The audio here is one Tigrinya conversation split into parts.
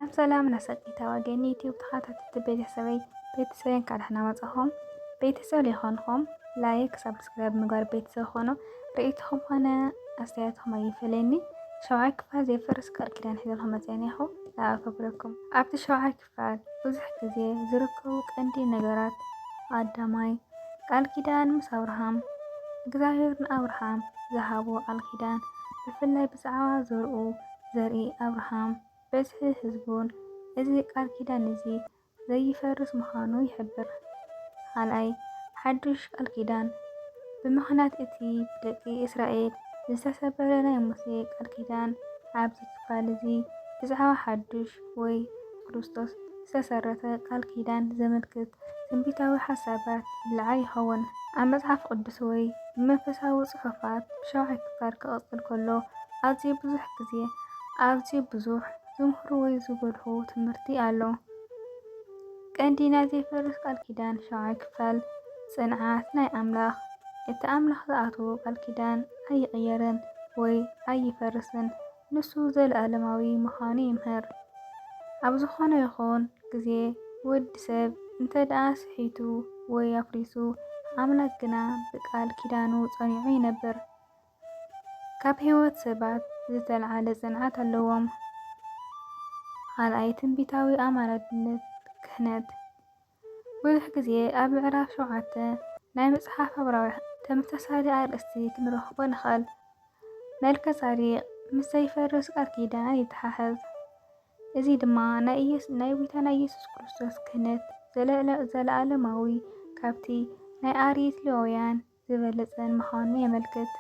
ኣብ ሰላም ናሰቂታ ወገን ዩቲዩብ ተኸታተልቲ ቤተሰበይ ቤተሰብ እንኳዕ ደህና መጻኹም። ቤተሰብ ሊኾንኹም ላይክ ሳብስክራይብ ምግባር ቤተሰብ ኾኖ ርእይትኹም ኾነ ኣስተያየትኹም ኣይፈለኒ። ሸውዓይ ክፋል ዘይፈርስ ቃል ኪዳን ሒዘልኹም መጽአኒ ኢኹ ለኣከብረኩም። ኣብቲ ሸውዓይ ክፋል ብዙሕ ግዜ ዝርከቡ ቀንዲ ነገራት ኣዳማይ ቃል ኪዳን ምስ ኣብርሃም እግዚኣብሔር ንኣብርሃም ዝሃቦ ቃል ኪዳን ብፍላይ ብዛዕባ ዘርኡ ዘርኢ ኣብርሃም በዝሒ ህዝቡን እዚ ቃል ኪዳን እዚ ዘይፈርስ ምዃኑ ይሕብር። ኻልኣይ፣ ሓድሽ ቃል ኪዳን ብምኽንያት እቲ ብደቂ እስራኤል ዝተሰበረ ናይ ሙሴ ቃል ኪዳን ኣብዚ ክፋል እዚ ብዛዕባ ሓድሽ ወይ ብክርስቶስ ዝተሰረተ ቃል ኪዳን ዘመልክት ትንቢታዊ ሓሳባት ይለዓል ይኸውን። ኣብ መጽሓፍ ቅዱስ ወይ ብመንፈሳዊ ጽሑፋት ብሻውዓይ ክፋል ክቕጽል ከሎ ኣዝዩ ብዙሕ ግዜ ኣዝዩ ብዙሕ ዝምህሩ ወይ ዝጎልሑ ትምህርቲ ኣሎ። ቀንዲ ናይ ዘይፈርስ ቃል ኪዳን ሻውዓይ ክፋል ጽንዓት ናይ ኣምላኽ እቲ ኣምላኽ ዝኣትዎ ቃል ኪዳን ኣይቕየርን ወይ ኣይፈርስን። ንሱ ዘለኣለማዊ ምዃኑ ይምህር። ኣብ ዝኾነ ይኹን ግዜ ወዲ ሰብ እንተድኣ ስሒቱ ወይ ኣፍሪሱ፣ ኣምላኽ ግና ብቃል ኪዳኑ ጸኒዑ ይነብር። ካብ ሕይወት ሰባት ዝተልዓለ ጽንዓት ኣለዎም። ኻልኣይ ትንቢታዊ ኣማላድነት ክህነት። ብዙሕ ግዜ ኣብ ምዕራፍ ሸውዓተ ናይ መጽሓፍ ዕብራውያን ተመሳሳሊ ኣርእስቲ ክንረኽቦ ንኽእል። መልከ-ጻዴቅ ምስ ዘይፈርስ ቃል ኪዳን ይተሓሓዝ፣ እዚ ድማ ናይ ጎይታና ኢየሱስ ክርስቶስ ክህነት ዘለኣለማዊ ካብቲ ናይ ኣርየት ሌዋውያን ዝበለጸን ምዃኑ የመልክት፣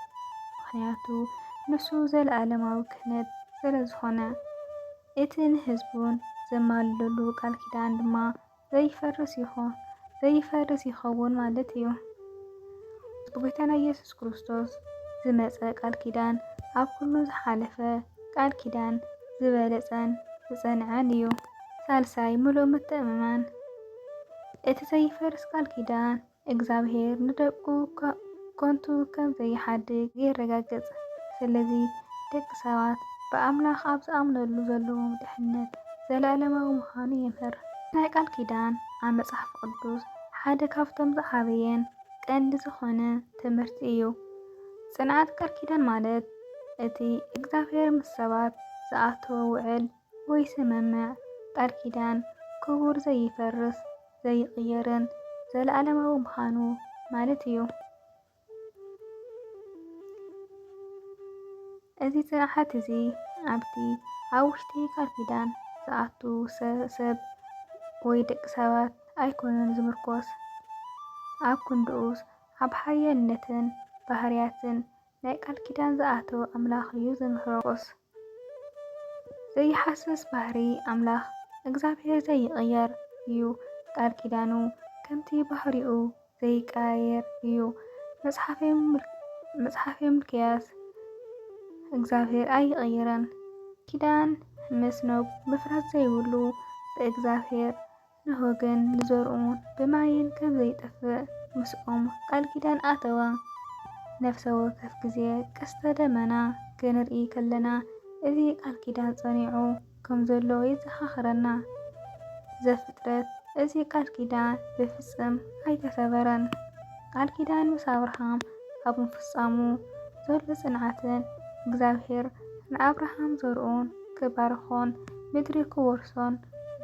ምኽንያቱ ንሱ ዘለኣለማዊ ክህነት ስለዝዀነ፣ እቲ ንህዝቡን ዘማልደሉ ቃል ኪዳን ድማ ዘይፈርስ ይኸውን ማለት ኢዩ። ብጐይታና ኢየሱስ ክርስቶስ ዝመጸ ቃል ኪዳን ኣብ ኵሉ ዝሓለፈ ቃል ኪዳን ዝበለጸን ዝጸንዐን ኢዩ። ሳልሳይ፣ ምሉእ ምትእምማን እቲ ዘይፈርስ ቃል ኪዳን እግዝኣብሄር ንደቁ ከንቱ ከም ዘይሓድግ የረጋግጽ። ስለዚ ደቂ ሰባት ብኣምላኽ ኣብ ዝኣምነሉ ዘለዎም ድሕነት ዘለኣለማዊ ምዃኑ የምህር። ናይ ቃል ኪዳን ኣብ መጽሓፍ ቅዱስ ሓደ ካብቶም ዝዓበየን ቀንዲ ዝኾነ ትምህርቲ እዩ። ጽንዓት ቃል ኪዳን ማለት እቲ እግዝኣብሄር ምስ ሰባት ዝኣተዎ ውዕል፣ ወይ ስምምዕ፣ ቃል ኪዳን፣ ክቡር ዘይፈርስ ዘይቕየርን ዘለኣለማዊ ምዃኑ ማለት እዩ። እዚ ጽንዓት እዚ ኣብቲ ኣብ ውሽጢ ቃል ኪዳን ዝኣቱ ሰብ ወይ ደቂ ሰባት ኣይኮነን ዝምርኮስ፣ ኣብ ክንድኡስ ኣብ ሓያልነትን ባህርያትን ናይ ቃል ኪዳን ዝኣተወ ኣምላኽ እዩ ዝምርኮስ። ዘይሃስስ ባህሪ ኣምላኽ እግዚኣብሔር ዘይቅየር እዩ ቃል ኪዳኑ ከምቲ ባህሪኡ ዘይቀያየር እዩ መጽሓፌ ምልክያስ እግዚኣብሔር ኣይቅየርን ኪዳን ምስ ኖብ ምፍራስ ዘይብሉ ብእግዚኣብሔር ንሆ ግን ንዘርኡ ብማይን ከም ዘይጠፍእ ምስኦም ቃል ኪዳን ኣተወ። ነፍሰ ወከፍ ግዜ ቀስተ ደመና ክንርኢ ከለና እዚ ቃል ኪዳን ጸኒዑ ከም ዘሎ የዘኻኽረና። ዘፍጥረት እዚ ቃል ኪዳን ብፍጽም ኣይተሰበረን። ቃል ኪዳን ምስ ኣብርሃም ኣብ ምፍጻሙ ዘሎ ጽንዓትን እግዚኣብሔር ንኣብርሃም ዘርኡን ክባርኾን ምድሪ ክወርሶን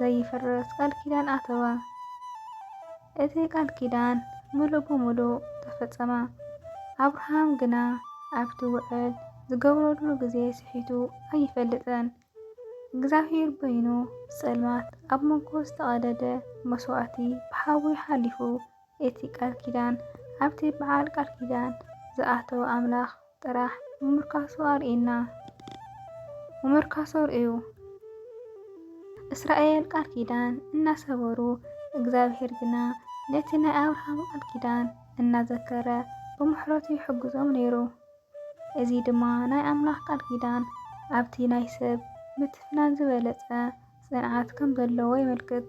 ዘይፍረስ ቃል ኪዳን ኣተወ። እቲ ቃል ኪዳን ምሉእ ብምሉእ ተፈጸመ። ኣብርሃም ግና ኣብቲ ውዕል ዝገብረሉ ግዜ ስሒቱ ኣይፈልጥን። እግዚኣብሄር በይኑ ጸልማት ኣብ መንጎ ዝተቐደደ መስዋእቲ ብሓዊ ሓሊፉ እቲ ቃል ኪዳን ኣብቲ በዓል ቃል ኪዳን ዝኣተወ ኣምላኽ ጥራሕ ምምርካሱ ኣርእዩና። ምምርካሱ ርእዩ። እስራኤል ቃል ኪዳን እናሰበሩ እግዚኣብሔር ግና ነቲ ናይ ኣብርሃም ቃል ኪዳን እናዘከረ ብምሕረቱ ይሕግዞም ነይሩ። እዚ ድማ ናይ ኣምላኽ ቃል ኪዳን ኣብቲ ናይ ሰብ ምትፍናን ዝበለጸ ጽንዓት ከም ዘለዎ የመልክት።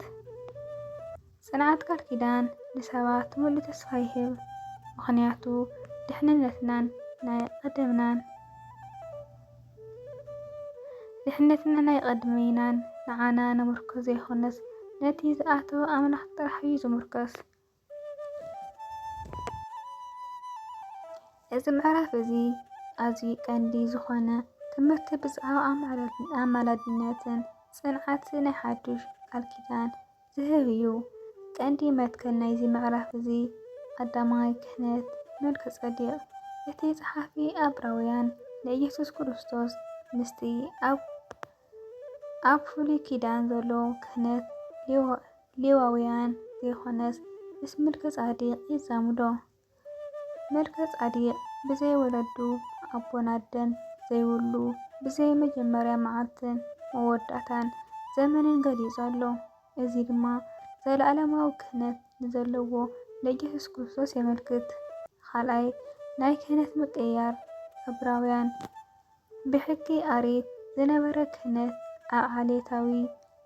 ጽንዓት ቃል ኪዳን ንሰባት ምሉእ ተስፋ ይህብ፣ ምኽንያቱ ድሕነትናን ናይ ቐደምናን ድሕነትና ናይ ቐድሚናን ንዓና ንምርኮስ ዘይኮነስ ነቲ ዝኣተወ ኣምላኽ ጥራሕ እዩ ዝምርኮስ። እዚ ምዕራፍ እዚ ኣዝዩ ቀንዲ ዝኾነ ትምህርቲ ብዛዕባ ኣማላድነትን ጽንዓት ናይ ሓዱሽ ቃል ኪዳን ዝህብ እዩ። ቀንዲ መትከል ናይዚ ምዕራፍ እዚ ቀዳማይ ክህነት መልከ-ጸዴቅ እቲ ጸሓፊ ኣብራውያን ንኢየሱስ ክርስቶስ ምስቲ ኣብ ኣብ ፍሉይ ኪዳን ዘሎ ክህነት ሌዋውያን ዘይኮነስ ምስ ምልከ-ጻዴቅ የዛምዶ። መልከ ጻዴቅ ብዘይ ወለዱ ኣቦን ኣደን ዘይብሉ ብዘይ መጀመርያ መዓልትን መወዳእታን ዘመንን ገሊጹ ኣሎ። እዚ ድማ ዘለኣለማዊ ክህነት ንዘለዎ ንየሱስ ክርስቶስ የመልክት። ኻልኣይ ናይ ክህነት ምቅይያር ዕብራውያን። ብሕጊ ኣሪት ዝነበረ ክህነት ኣብ ዓሌታዊ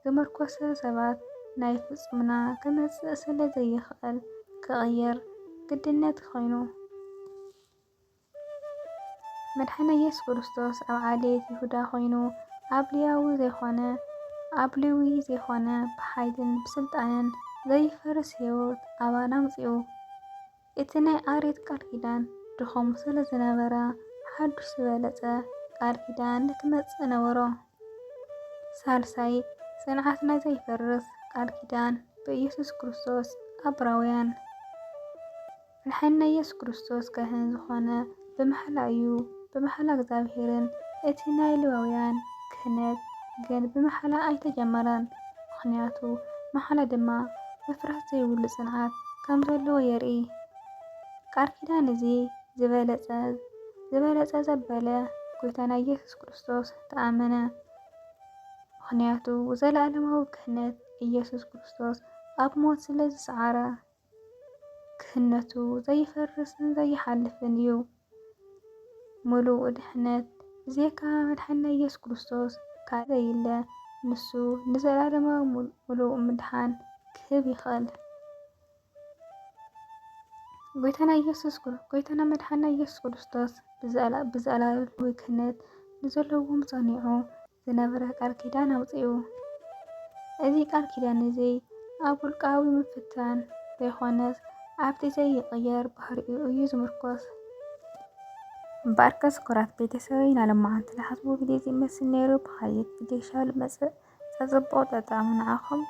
ዝምርኮሰ ሰባት ናይ ፍፁምና ክመፅእ ስለ ዘይኽእል ክቕየር ግድነት ኾይኑ። መድሓኒና ኢየሱስ ክርስቶስ ኣብ ዓሌት ይሁዳ ኾይኑ ኣብ ሌያዊ ዘይኾነ ኣብ ሌዊ ዘይኾነ ብሓይልን ብስልጣንን ዘይፈርስ ሕይወት ኣባና ኣምፂኡ። እቲ ናይ ኣርየት ቃል ኪዳን ድኹም ስለ ዝነበረ፣ ሓዱሽ ዝበለጸ ቃል ኪዳን ክመጽእ ነበሮ። ሳልሳይ፣ ጽንዓትና ዘይፈርስ ቃል ኪዳን ብኢየሱስ ክርስቶስ ኣብራውያን። ንሕና ኢየሱስ ክርስቶስ ካህን ዝኾነ ብምሓላ እዩ፣ ብምሓላ እግዚኣብሔርን፣ እቲ ናይ ሌዋውያን ክህነት ግን ብምሓላ ኣይተጀመረን፣ ምኽንያቱ መሓላ ድማ ምፍራስ ዘይብሉ ጽንዓት ከም ዘለዎ የርኢ። ቃል ኪዳን እዚ ዝበለጸ ዝበለጸ ዘበለ ጎይታና ኢየሱስ ክርስቶስ ተኣመነ፣ ምኽንያቱ ዘለኣለማዊ ክህነት ኢየሱስ ክርስቶስ ኣብ ሞት ስለ ዝሰዓረ። ክህነቱ ዘይፈርስን ዘይሓልፍን እዩ። ምሉእ ድሕነት ብዜካ መድሓኒና ኢየሱስ ክርስቶስ ካልእ ዘየለ ንሱ ንዘላለማዊ ምሉእ ምድሓን ክህብ ይኽእል። ጎይታና ኢየሱስ ጎይታና መድሓና ኢየሱስ ክርስቶስ ብዘላዊ ክህነት ንዘለዎም ጸኒዑ ዝነበረ ቃል ኪዳን ኣውጺኡ። እዚ ቃል ኪዳን እዚ ኣብ ውልቃዊ ምፍታን ዘይኮነስ ኣብቲ ዘይቕየር ባህሪኡ እዩ ዝምርኮስ። እምበኣርከስ ኩራት ቤተሰበይ ኢና ለማዓንቲ ዝሓስቡ ግዜ ዝመስል ነይሩ ብኻልእ ብጌሻ ልመጽእ ጸጽቡቕ ጠጣሙ ንዓኹም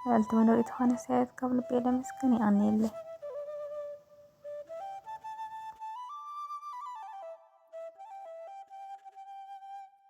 ልዕልቲ መኖሪት ዝኾነ ሳየት ካብ ልቤ ለመስግን የቐንየለይ።